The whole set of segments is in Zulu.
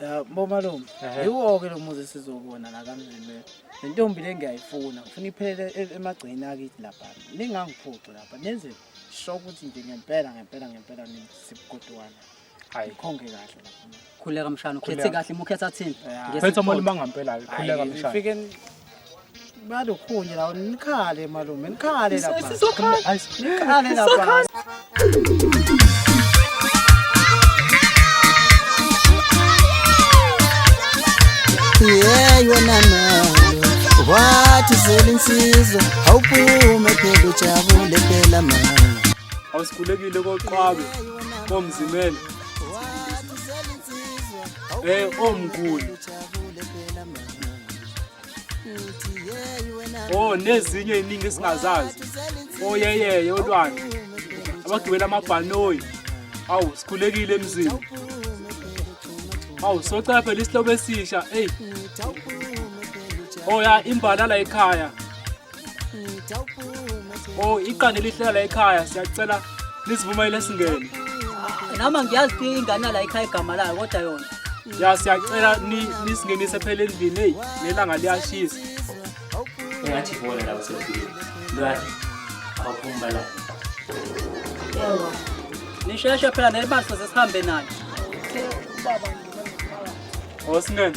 Ya bomalume, yiwo-ke lo muzi sizowubona la kamzini le. Le ntombi le ngiyayifuna, ngifuna iphelele e- emagceni akithi lapha. Ningangiphuxi lapha, nenze sho ukuthi nje ngempela ngempela ngempela nisibukotwana. Hayi. Nikhonge kahle lapha. khuleka mshana ukhethe Khuleka. kahle mukhetha thini Phetha umalume angampela-ke khuleka mshana Ngifike Balukhuni lawo nikhale malume nikhale lapha. Sizokhala. Nikhale lapha. Yeah, yona nayo wathi zela insizwa awuphume phela ujabule phela ma awusikhulekile koqwabe komzimela um omkhulu Oh nezinye eziningi esingazazi. Oh yeyeye olwandle. Abagibela amabhanoyi. Awu sikhulekile emzini. Awu soca phela isihlobo esisha. Hey. Oh ya imbala la ekhaya. Oh, iqanda elihlala ekhaya siyacela lisivumayile singene. Nama ngiyazi ukuthi ingane yala ekhaya igama layo kodwa yona. Ya siyacela ni- nisingenise phela endlini hey nelanga liyashisa. engathi ibona la usefikile lwani awuphumba la Nisheshe phela nelibali sesihambe nalo. Oh singene.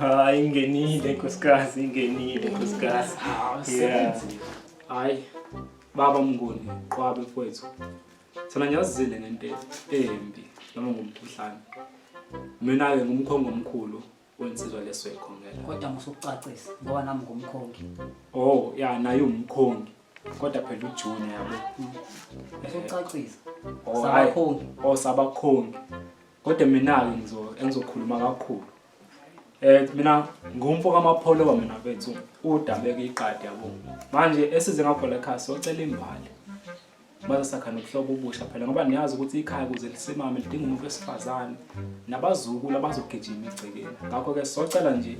Ah, ingenile nkosikazi, ingenile nkosikazi. Yeah. Hayi baba Mnguni qwabe mfowethu. Thina ngiyazile ngento embi noma ngomkhuhlane. Mina ke ngumkhongo omkhulu wensizwa leswekhongela kodwa musukucacisa ngoba nami ngumkhongi oh ya naye umkhongi kodwa phela ujune yabo musukucacisa Oh, hayi. sabakhongi oh sabakhongi kodwa mina-ke ngizo engizokhuluma kakhulu um mina ngumfo kamapholoba mina bethu udabeke iqadi yabo manje esize ngakho la khaya socela imbali baze sakha nobuhlobo obusha phela ngoba niyazi ukuthi ikhaya kuze lisimame lidinga umuntu wesifazane nabazukulu abazogijima egcekeni ngakho-ke socela nje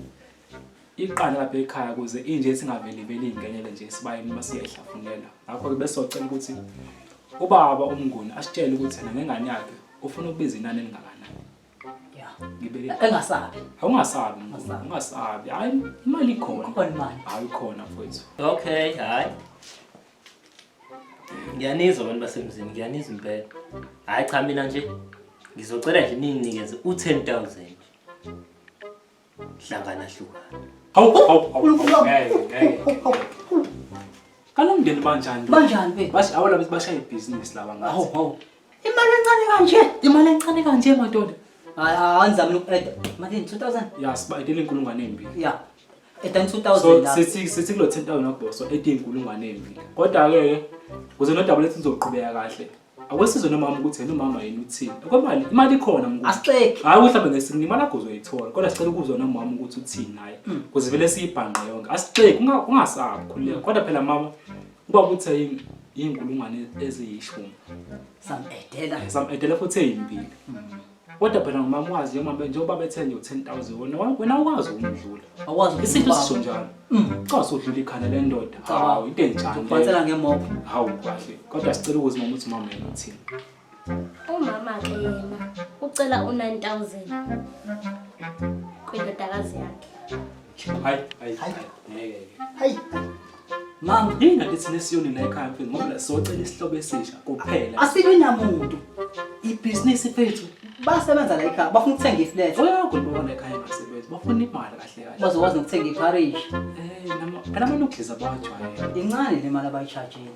iqanda lapha ekhaya kuze inje singaveliveli ingenele nje sibaye noma siyayihlafunela ngakho-ke besocela ukuthi ubaba umnguni asitshele ukuthi yena ngengane yakhe ufuna ukubiza inani elingakanani ya ngibeke engasabi awungasabi ungasabi hayi imali ikhona khona imali hayi khona mfowethu okay hayi ngiyanizwa abantu basemzini ngiyanizwa impela hhayi cha mina nje ngizocela nje ninginikeze u-ten thousand hlangana hlukana Hawu, hawu, hawu, hawu, ngeke, ngeke. Kalo mndeni banjani? Banjani be? Bash- Awala bethi bashaya ibhizinisi laba ngathi. Hawu, hawu. Imali encane kanje, imali encane kanje madoda. Hayi anizamile uku-add. Malini 2000? Ya siba edela inkulungwane embili. Ya. Edani 2000 So lapho. sithi sithi kulo 10000 nokubhoso ethi inkulungwane embili. Kodwa ke ke kuze no double sizoqhubeka kahle. Akwesizwe nomama ukuthi yena umama yini uthini. Kwemali imali ikhona mkhulu. Asixeki. Hayi ukuthi mhlawumbe ngesinye imali akho uzoyithola kodwa sicela ukuzwa nomama ukuthi uthini naye. Kuze vele siyibhanqe yonke. Asixeki unga- ungasabi khuleka. Kodwa phela mama Uba kuthe yini inkulungwane eziyishumi. Some edela. Some edela futhi eyimbili. Mm. kodwa phela ngumama wazi njengoba njengoba bethe nje u-10000 wona wena wazi ukumdlula awazi isinto sisho njalo mm. cha sodlula ikhanda lendoda hawu into enjani ubathela ngemop hawu kahle kodwa sicela ukuzi mama uthi mama yena uthini Umama ke yena ucela u9000 kwindodakazi yakhe. Hayi, hayi, hayi. Ngeke. Hayi. Mama, yini ngathi thina siyoni la ekhaya mfethu ngoba socela isihlobo esisha kuphela. Asilwi namuntu. Ibhizinisi fethu basebenza la ekhaya bafuna ukuthenga iflat. Oyakho libona la ekhaya basebenza. Bafuna imali kahle kahle. Bazokwazi nokuthenga iparish. Eh, nama kana manukhiza bawajwayele. Incane le mali abayishajile.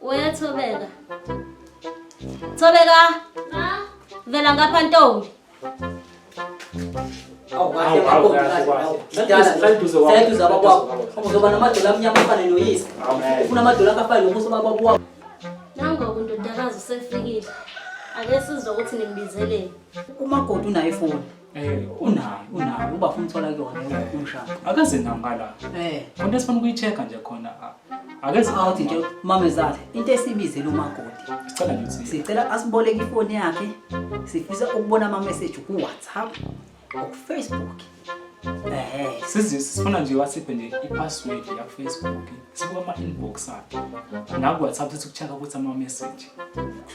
Uyathobeka. Thobeka. Ma. Vela ngapha ntombi. Awukahlekuduze abakwakho uzoba namadola amnyama afane noyise ufuna amadola akafane nomuso bababo wakho nangoku ndodakazi usefikile ake sizwa ukuthi nimbizeleni umakoti unayo ifoni Eh unayo unayo uba funa uthola kuyona umshado. Akaze nambala. Eh konke sifuna ukuyicheka nje khona. Akeze awuthi nje mamezala into esibizela umakoti. Sicela nje ukuthi sicela asiboleke ifoni yakhe. Sifisa ukubona ama message ku WhatsApp, ku Facebook. Eh sizifuna nje wasiphe nje i password ya Facebook. sekuwama-inbox akhe naku-whatsapp sethi kuchaka ukuthi ama-message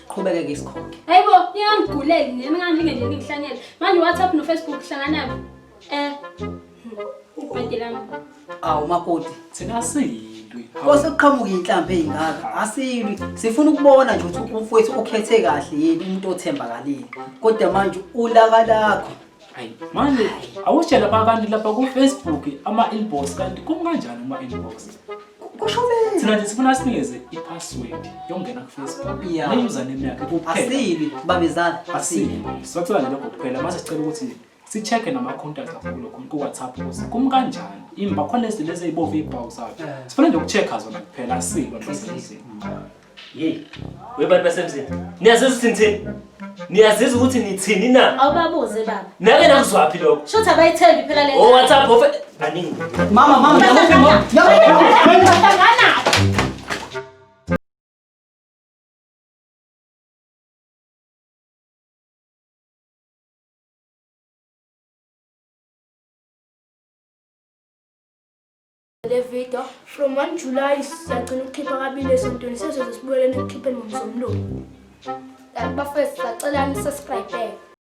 qhubeke-ke isikhokhe hayi bo niyangiguleli nina ngamlinge nje ningihlanyele manje whatsapp nofacebook hlanganabo eh bhedelami awu makoti thina siyilwi osekuqhamuka inhlampe ey'ngaka asilwi sifuna ukubona nje ukuthi umfowethu ukhethe kahle yini umuntu othembakalile kodwa manje ulaka lakho Hayi manje awushe lapha abantu lapha ku Facebook ama inbox kanti kum kanjani uma inbox? Kusho beni? Thina nje sifuna sinikeze i password yongena ku Facebook. Yeah. Ne username yakhe kuphela. Asibi babezala. Asibi. Sothola nje lokho kuphela mase sicela ukuthi sicheke nama contact akho kulokho ku WhatsApp ukuthi kum kanjani? Imba khona lezi lezi ezibovu ibhawu zakhe. Sifuna nje ukuchecka zona kuphela asibi nhlosini. Hey, webantu basemzini. Niyazizwa ukuthi nithini? Niyazizwa ukuthi nithini na? Awubabuze baba. Nake nakuzwaphi lokho? Shothi abayithembi phela le. Oh, WhatsApp ofe. Baningi. Mama, mama, yabuphi mama? Yabuphi mama? le video from 1 July siyagcina ukukhipha kabili esontweni sezoze sibuyeleni ekukhipheni ngomsombuluko bafethu sacela nisubscribe